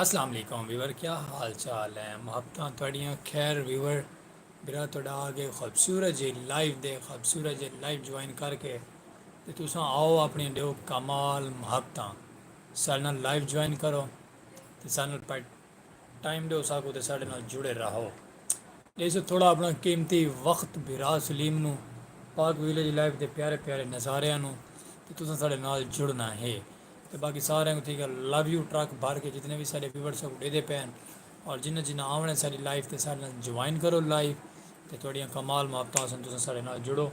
اسلام علیکم ویور کیا حال چال ہیں محبتاں تہاڈیاں خیر ویور برا تہاڈا آ گئے خوبصورت جے لائیو دے خوبصورت جے لائیو جوائن کر کے تے تساں آؤ اپنی ڈیو کمال محبتاں سارے نال لائیو جوائن کرو تے سارے نال ٹائم ڈیو ساکو تے ساڈے نال جڑے راہو ڈیسو تھوڑا اپنا قیمتی وقت بھرا سلیم نو پاک ویلیج لائف دے پیارے پیارے نظاریاں نو تے تساں ساڈے نال جڑنا ہے تے باقی سارے کو تھی گا لو یو ٹرک بھر کے جتنے وی ساڈے ویورز ساکو ڈیدے پین اور جنہ جنہ آونے ساڈی لائف تے ساڈے نال جوائن کرو لائف تے تھوڑیاں کمال محبتاں ہسن تساں ساڈے نال جڑو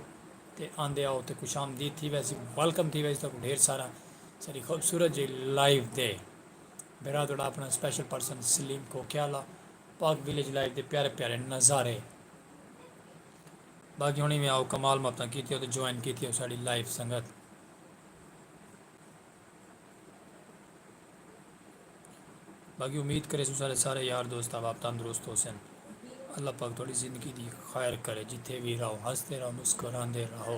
تے آندے آؤ تے خوش آمدید تھی ویسی ویلکم تھی ویسی تاکو ڈھیر سارا ساڈی خوبصورت جی لائف دے بھرا تہاڈا اپنا special person Salim Kokiala Pak village life دے پیارے پیارے نظارے باقی ہونی میں آؤ کمال مفتاں کیتی ہو تو جوائن کیتی ہو ساڑی لائف سنگت باقی امید کرے سو سارے سارے یار دوست آپ تندرست ہو سن اللہ پاک تھوڑی زندگی دی خیر کرے جتھے بھی رہو ہنستے رہو مسکراندے رہو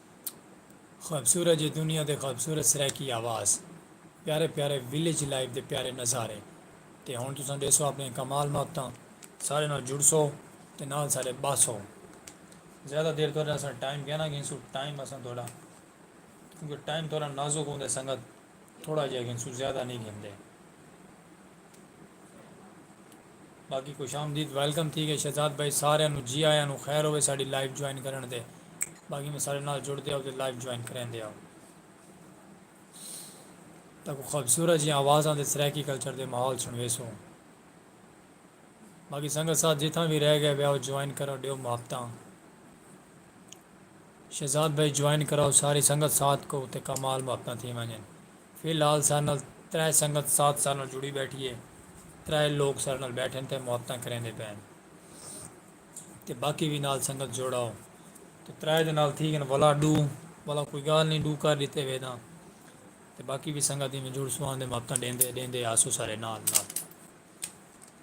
خوبصورت جے دنیا دے خوبصورت سرائیکی آواز، پیارے پیارے ولیج لائف دے پیارے نظارے تے ہن تساں ڈیسو اپنیاں کمال محبتاں، ساڈے نال جڑسو تے نال ساڈے بہسو، زیادہ دیر تہاڈے نال اساں ٹائم کیاں نہ گھنسوں، ٹائم اساں تہاڈا کیونکہ ٹائم تہاڈا نازک ہوندے سنگت۔ تھوڑا جیہا گھنسوں زیادہ نہیں گھندے باقی خوش آمدید ویلکم تھی گئے شہزاد بھائی سارے نو جی آیا نو خیر ہوئے ساری لائیو جوائن کرن دے باقی میں سارے نال جڑ دے آؤ تو لائیو جوائن کریں دے آؤ تاکہ خوبصورت جی آواز آن دے سریکی کلچر دے ماحول سنوے سو باقی سنگت ساتھ جتھاں بھی رہ گئے بے آؤ جوائن کرو دیو محبتاں شہزاد بھائی جوائن کراؤ ساری سنگت ساتھ کو تے کمال محبتاں تھی ونجن فی الحال سارے نال ترے سنگت ساتھ سارے نال جڑی بیٹھی ہے ترے لوگ سارے نال بیٹھن تے محبتاں کریندے پین تے باقی وی نال سنگت جوڑاؤ تے ترے دے نال تھی گن ولا ڈو ولا کوئی گال نی ڈو کر ڈتے ویداں تے باقی وی سنگت ایویں جڑ سو آندے محبتاں ڈیندے ڈیندے آسو سارے نال نال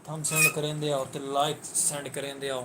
تھم سینڈ کریندے آؤ تے لائک سینڈ کریندے آؤ۔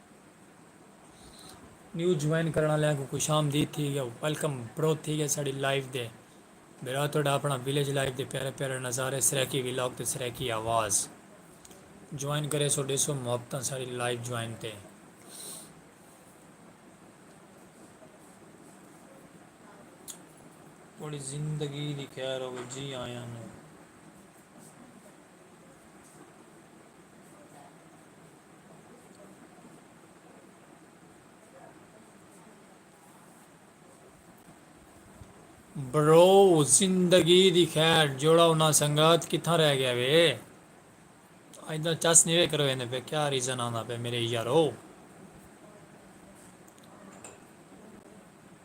نیو جوائن کرنا لیا کو خوش آمدید تھی گیا ویلکم برو تھی گیا ساڑی لائیو دے میرا تو ڈا اپنا ویلیج لائیو دے پیارے پیارے نظارے سریکی ویلاگ تے سریکی آواز جوائن کرے سو ڈے سو محبتہ ساڑی لائیو جوائن تے تھوڑی زندگی دی خیر ہوگی جی آیا نو برو زندگی دی خیر جوڑا انہاں سنگت کتھاں رہ گیا وے اج دا چس نہیں وے کرو ایندے پہ کیا ریزن آندا پہ میرے یارو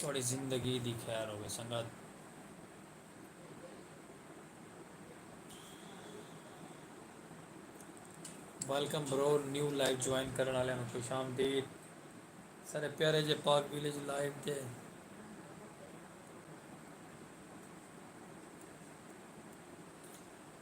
تہاݙی زندگی دی خیر ہووے سنگت۔ Welcome bro new live join کرن والے نو خوش آمدید سارے پیارے جے پاک ویلیج لائیو تے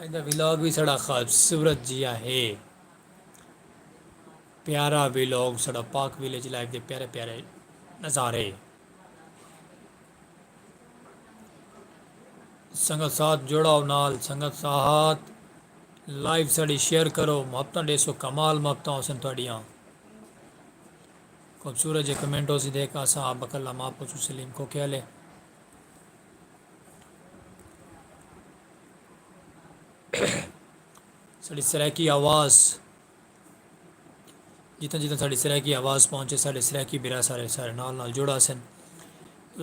اج دا ولاگ وی ساڑا خوبصورت جیہا ہے۔ پیارا ولاگ ساڑا پاک ولیج لائف دے پیارے پیارے نظارے سنگت ساتھ جوڑا ہو نال سنگت ساتھ لائف ساڑی شیئر کرو محبت ڈے سو کمال محبت ہو سن تھوڑیاں خوبصورت جے کمنٹ ہو سی دیکھ آسا آپ بکلا ماں پوچھو سلیم کو کیا لے ساڑی سرائیکی آواز جتنا جتنا ساڑی سرائیکی آواز پہنچے ساڑے سرائیکی برا سارے سارے نال نال جڑا سن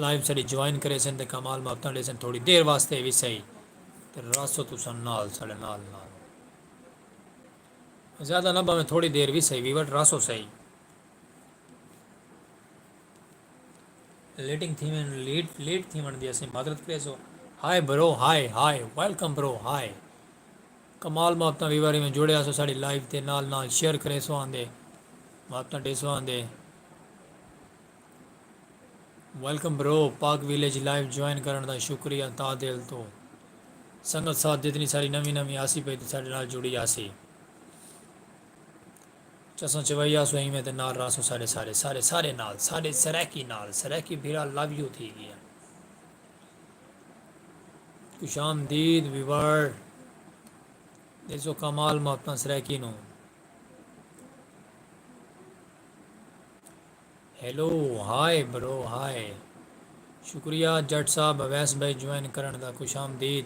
لائیو ساڑی جوائن کرے سن تے کمال ماپتاں دے سن تھوڑی دیر واسطے بھی صحیح تے راسو تو سن نال ساڑے نال نال زیادہ نہ باویں تھوڑی دیر بھی صحیح ویور راسو صحیح لیٹنگ تھیویں لیٹ لیٹ تھیون دی اسیں معذرت کریسو ہائے برو ہائے ہائے ویلکم برو ہائے کمال محبتاں ویواری میں جوڑے آسو ساڑی لائیو تے نال نال شیئر کریسو آندے محبتاں ڈیسو آندے welcome bro Pak village live join کرن دا شکریہ تا دل تو سنگت ساتھ جتنی ساری نوی نوی آسی پہ ساڑے نال جڑی آسی چسوں چوائی آسوں ایویں تے نال رہسوں ساڈے سارے سارے سارے نال ساڈے سرائیکی نال سرائیکی بھیرا لو یو تھی گیا خوش آمدید ویور دیسو کمال محبتاں سرائیکی نو ہیلو ہائے برو ہائے شکریہ جٹ صاحب اویس بھائی جوائن کرن دا خوش آمدید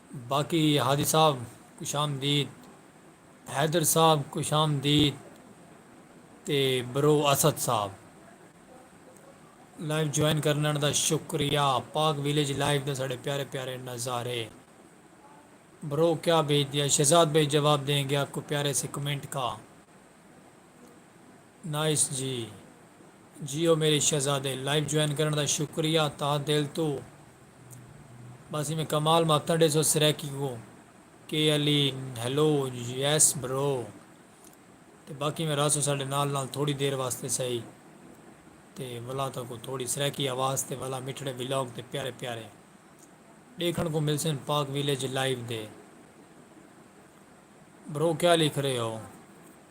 باقی ہادی صاحب خوش آمدید حیدر صاحب خوش آمدید تے برو اسد صاحب لائیو جوائن کرنڑ دا شکریہ پاک ویلیج لائیو دے ساڑے پیارے پیارے نظارے برو کیا بھیج دیا شہزاد بھائی جواب دیں گے آپ کو پیارے سے کمنٹ کا۔ نائس جی جیو میرے شہزادے لائیو جوائن کرن دا شکریہ تہہ دل توں بس ایویں کمال ماتاں ڈیسو سریکی کو کے علی ہیلو یس برو تے باقی میں راسو ساڈے نال نال تھوڑی دیر واسطے سہی تے ولا تا کو تھوڑی سریکی آواز تے ولا مٹھڑے ولاگ تے پیارے پیارے دیکھن کو ملسن پاک ویلیج لائیو دے برو کیا لکھ رہے ہو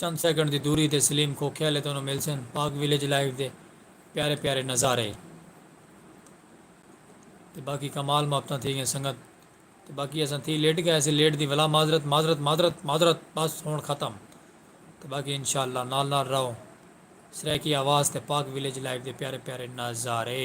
چند سیکنڈ دی دوری تے سلیم کھوکھے آلے تانوں ملسن پاک ویلیج لائیو دے پیارے پیارے نظارے تے باقی کمال محبتاں تھی گئیں سنگت تے باقی اساں تھی لیٹ گئے اسے لیٹ دی ولا معذرت معذرت معذرت معذرت بس ہون ختم تے باقی انشاءاللہ نال نال رہو سرائیکی آواز تے پاک ویلیج لائیو دے پیارے پیارے نظارے۔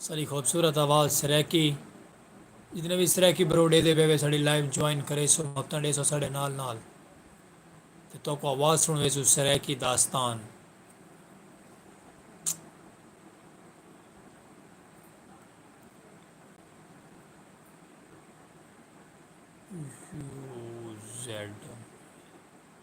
ساری خوبصورت آواز سریکی جتنے بھی سریکی بروڈے دے پہ ساری لائیو جوائن کرے سو وقتاں ڈے سو سارے نال نال تے تو کو آواز سن ویسو سریکی داستان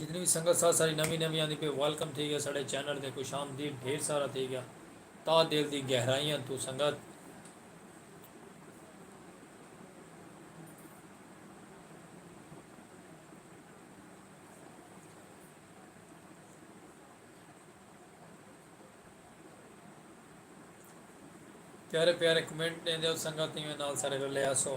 جتنی وی سنگت ساتھ ساری نوی نوی آندی پہ ویلکم تھی گیا ساڑے چینل تے خوش آمدید ڈھیر سارا تھی گیا تا دل دی گہرائیاں تو سنگت پیارے پیارے کمنٹ دیں دے سنگت نال سارے رلے آسو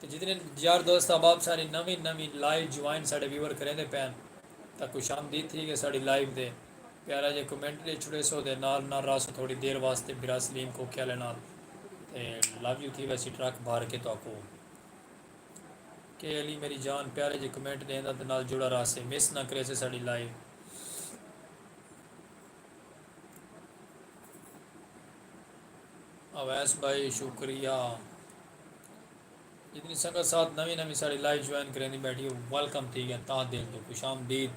تے جتنے یار دوست احباب ساڑی نویں نویں لائیو جوائن ساڑے ویور کریندے پین تاں خوش آمدید تھی گئے ساڑی لائیو دے پیارا جے کمنٹ ڈے چھڑے سو دے نال نال راسو تھوڑی دیر واسطے برا سلیم کوکے آلے نال تے لو یو تھی ویسی ٹرک بھر کے تو اکو کے علی میری جان پیارے جے کمنٹ دیندا تے نال جڑا راسے مس نہ کریسے ساڑی لائیو اویس بھائی شکریہ جتنی سنگت ساتھ نوی نوی ساری لائیو جوائن کریں دی بیٹھی ہو ویلکم تھی گیا تاں دل تو خوش آمدید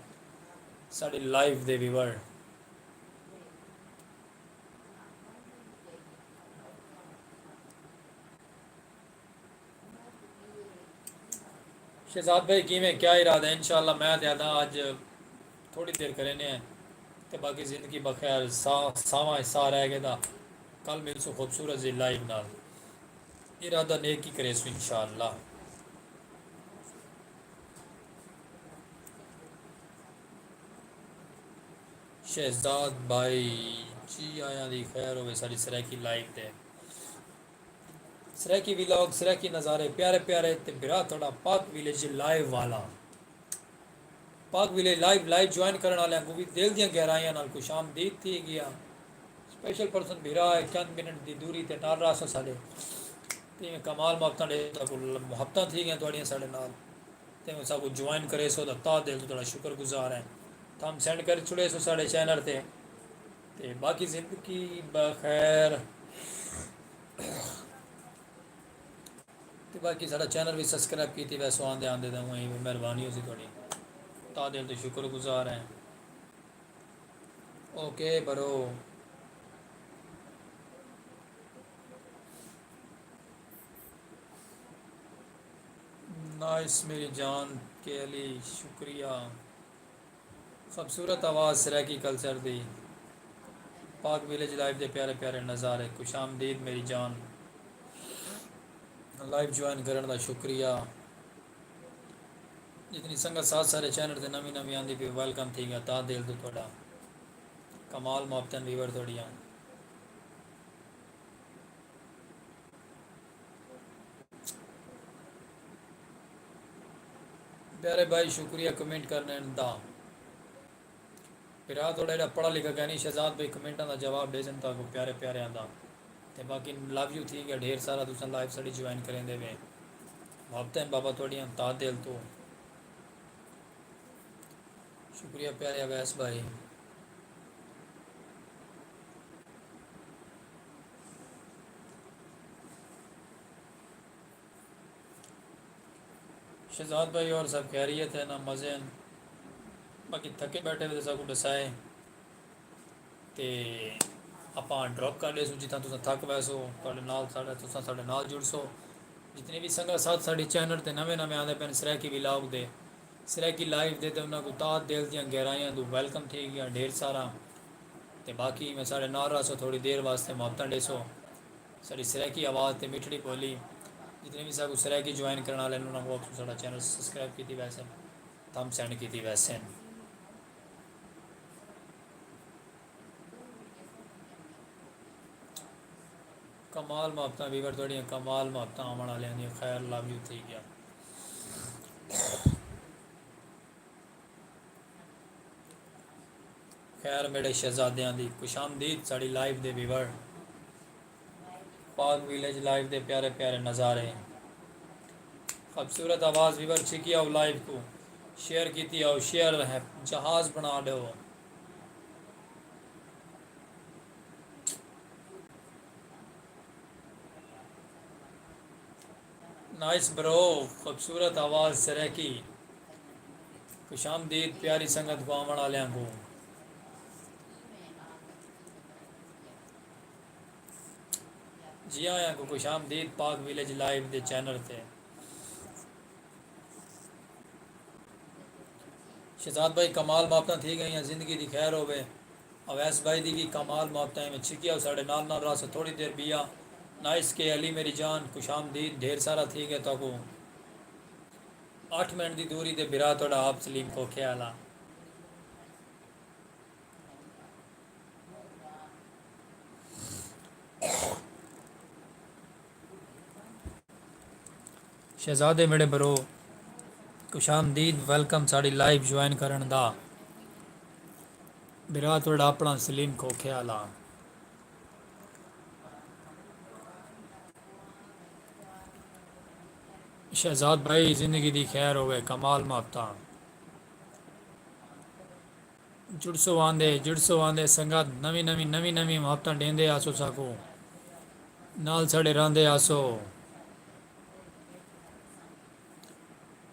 ساری لائیو دے ویور شہزاد بھائی کیویں کیا ارادہ ہے انشاءاللہ میں تے آدھاں اج تھوڑی دیر کرینے ہیں تے باقی زندگی بخیر سا ساواں اچ ساہ رہ گئے دا کل ملسوں خوبصورت جی لائیو نال ارادہ نیک ہی کریسوں انشاءاللہ شہزاد بھائی جی آیاں دی خیر ہوے ساڈی سرائیکی لائیو تے سرائیکی ویلاگ سرائیکی نظارے پیارے پیارے تے بھرا تہاڈا پاک ویلیج لائیو والا Pak village live live join کرن والے کو بھی دل دیاں گہرائیاں نال خوش آمدید تھی گیا سپیشل پرسن بھرا ہے چند منٹ دی دوری تے نال راسو ساڈے تے کمال محبتاں دے تا کو محبتاں تھی گیاں تہاڈیاں ساڈے نال تے سا کو جوائن کرے سو تا تا دل تو تہاڈا شکر گزار ہیں تھم سینڈ کر چھڑے سو ساڈے چینل تے تے باقی زندگی بخیر تے باقی سارا چینل بھی سبسکرائب کیتی ویسو آندے آندے دے ہوئیں بھی مہربانی ہو سی تھوڑی تا دل تو شکر گزار ہیں اوکے برو نائس میری جان کے علی شکریہ خوبصورت آواز سرائیکی کلچر دی پاک ویلیج لائف دے پیارے پیارے نظارے خوش آمدید میری جان لائف جوائن کرن دا شکریہ جتنی سنگت ساتھ سارے چینل تے نوی نوی آندی پی ویلکم تھی گیا تا دل تو تھوڑا کمال محبتن ویور تھوڑیاں پیارے بھائی شکریہ کمنٹ کرنے دا پھر آ تھوڑا جڑا پڑھا لکھا کہنی شہزاد بھائی کمنٹاں دا جواب دے سن تا کو پیارے پیارے آندا تے باقی لو یو تھی گیا ڈھیر سارا تساں لائیو سڑی جوائن کریں دے وے وابطہ بابا تھوڑی ہم تا دل تو شکریہ پیارے اویس بھائی شہزاد بھائی اور سب خیریت ہے نا مزے ہیں باقی تھکے بیٹھے ہوئے سب کو ڈسائے تے آپ ڈراپ کر لے سو جتنا تو تھک پہ سو تھوڑے نال ساڑھے تو ساڑھے نال جڑ سو جتنے بھی سنگا ساتھ ساڑھے چینل تے نوے نوے آدھے پہن سریکی بھی لاؤگ دے سریکی لائیو دے تے انہاں کو تاہ دل دیاں گہرائیاں دو ویلکم تھی گیا ڈھیر سارا تے باقی میں ساڈے نال رہسو تھوڑی دیر واسطے محبتاں ڈیسو ساڈی سرائیکی آواز تے میٹھڑی بولی جتنے وی ساکوں سرائیکی جوائن کرن آلے ہن انہاں کوں آکھسوں ساڈا چینل سبسکرائب کیتی ویسے تھم سینڈ کیتی ویسے۔ کمال محبتاں ویور تہاڈیاں کمال محبتاں آون آلیاں دیاں خیر لو یو تھئی گیا۔ خیر میڈے شہزادیاں دی خوش آمدید ساڑی لائیو دے ویور پاک ویلیج لائیو دے پیارے پیارے نظارے خوبصورت آواز ویور چھکی آؤ لائیو کو شیئر کیتی آؤ شیئر ہے جہاز بنا ڈو نائس برو خوبصورت آواز سرائیکی خوش آمدید پیاری سنگت کو آوݨ آلیاں کوں جی آیاں کو خوش آمدید پاک ویلیج لائیو دے چینل تے شہزاد بھائی کمال ماپتاں تھی گئیاں زندگی دی خیر ہووے اویس بھائی دی وی کمال موت تئیں میں چھکیا او ساڈے نال نال رہسو تھوڑی دیر بیا نائس کے علی میری جان خوش آمدید ڈھیر سارا تھی گئے تہاکوں اٹھ منٹ دی دوری تے بھرا تہاڈا آپ سلیم کھوکھے آلا۔ شہزادے ویڑے برو خوش آمدید ویلکم ساڑی لائیو جوائن کرن دا برا تھوڑا اپنا سلیم کھوکھے والا شہزاد بھائی زندگی دی خیر ہوئے کمال ماپتا جڑسو آندے جڑسو آندے سنگت نویں نویں نویں نویں محبتاں ڈیندے آسو ساکوں نال ساڈے راہندے آسو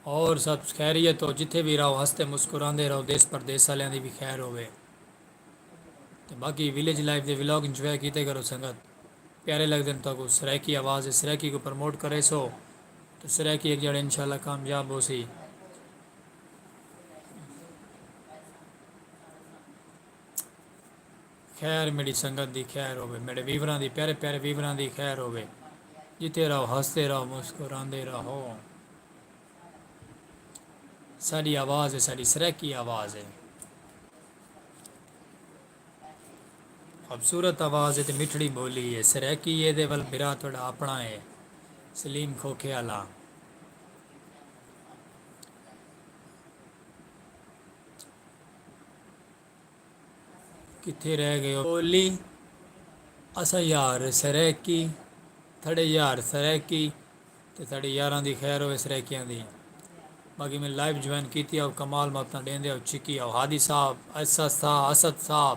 ہور سب خیریت ہو جتھے وی راہو ہستے مسکراندے راہو دیس پردیس آلیاں دی وی خیر ہووے تے باقی ولیج لائف دے ولاگ انجوائے کیتے کرو سنگت پیارے لگدن تاکوں سرائیکی آواز ہے سرائیکی کوں پرموٹ کریسو تے سرائیکی ہک جاڑے انشاءاللہ کامیاب ہوسی خیر میڈی سنگت دی خیر ہوے میڈے ویوراں دی پیارے پیارے ویوراں دی خیر ہوے جتے رہو ہنستے رہو مسکراندے رہو ساری آواز ہے ساری سرکی آواز ہے خوبصورت آواز ہے تو مٹھڑی بولی ہے سرکی ہے دے ول برا تھوڑا اپنا ہے سلیم کھوکھے والا کتھے رہ گئے ہو اولی اسا یار سرائیکی تھڑے یار سرائیکی تے تھڑے یاراں دی خیر ہوئے سرائیکیاں دی باقی میں لائیو جوائن کیتی او کمال ماتا ڈیندے او چکی او ہادی صاحب ایسا صاحب اسد صاحب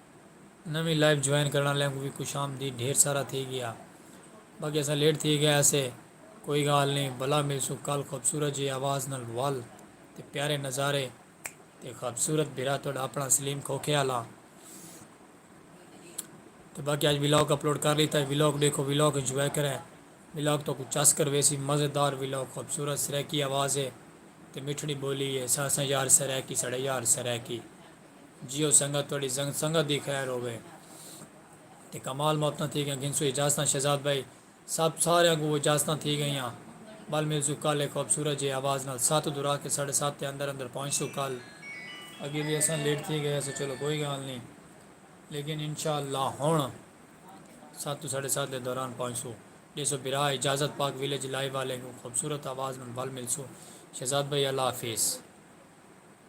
نویں لائیو جوائن کرݨ آلیاں کوں وی خوش آمدید ڈھیر سارا تھی گیا باقی اساں لیٹ تھی گئے ہاسے کوئی گال نی بلا ملسوں کل خوبصورت جی آواز نال ول تے پیارے نظارے تے خوبصورت بھرا تہاڈا اپݨا سلیم کھوکھے آلا تے باقی اج ولاگ اپلوڈ کر لیتا ہے ولاگ ڈیکھو ولاگ انجوائے کرے ولاگ تو کو چس کر ویسی مزیدار ولاگ خوبصورت سرائیکی آواز ہے تے مٹھڑی بولی ہے سا سا یار سرائیکی ساڈا یار سرائیکی جیو سنگت تہاڈی زنگ سنگت دی خیر ہووے تے کمال محبتاں تھی گئیاں گھنسوں اجازتاں شہزاد بھائی صاحب ساریاں کوں اجازتاں تھی گئیاں ول ملسوں کل ہک خوبصورت جیہے آواز نال سات دورا کے ساڈے سات تے اندر اندر پہنچسوں کل۔ اگے وی اساں لیٹ تھی گئے ہسوں چلو کوئی گال نی لیکن انشاءاللہ ہن سات توں ساڈے سات دے دوران پہنچسوں ڈیسو بھرا اجازت پاک ویلیج لائیو آلیں کوں خوبصورت آواز نال ول ملسوں شہزاد بھائی اللہ حافظ۔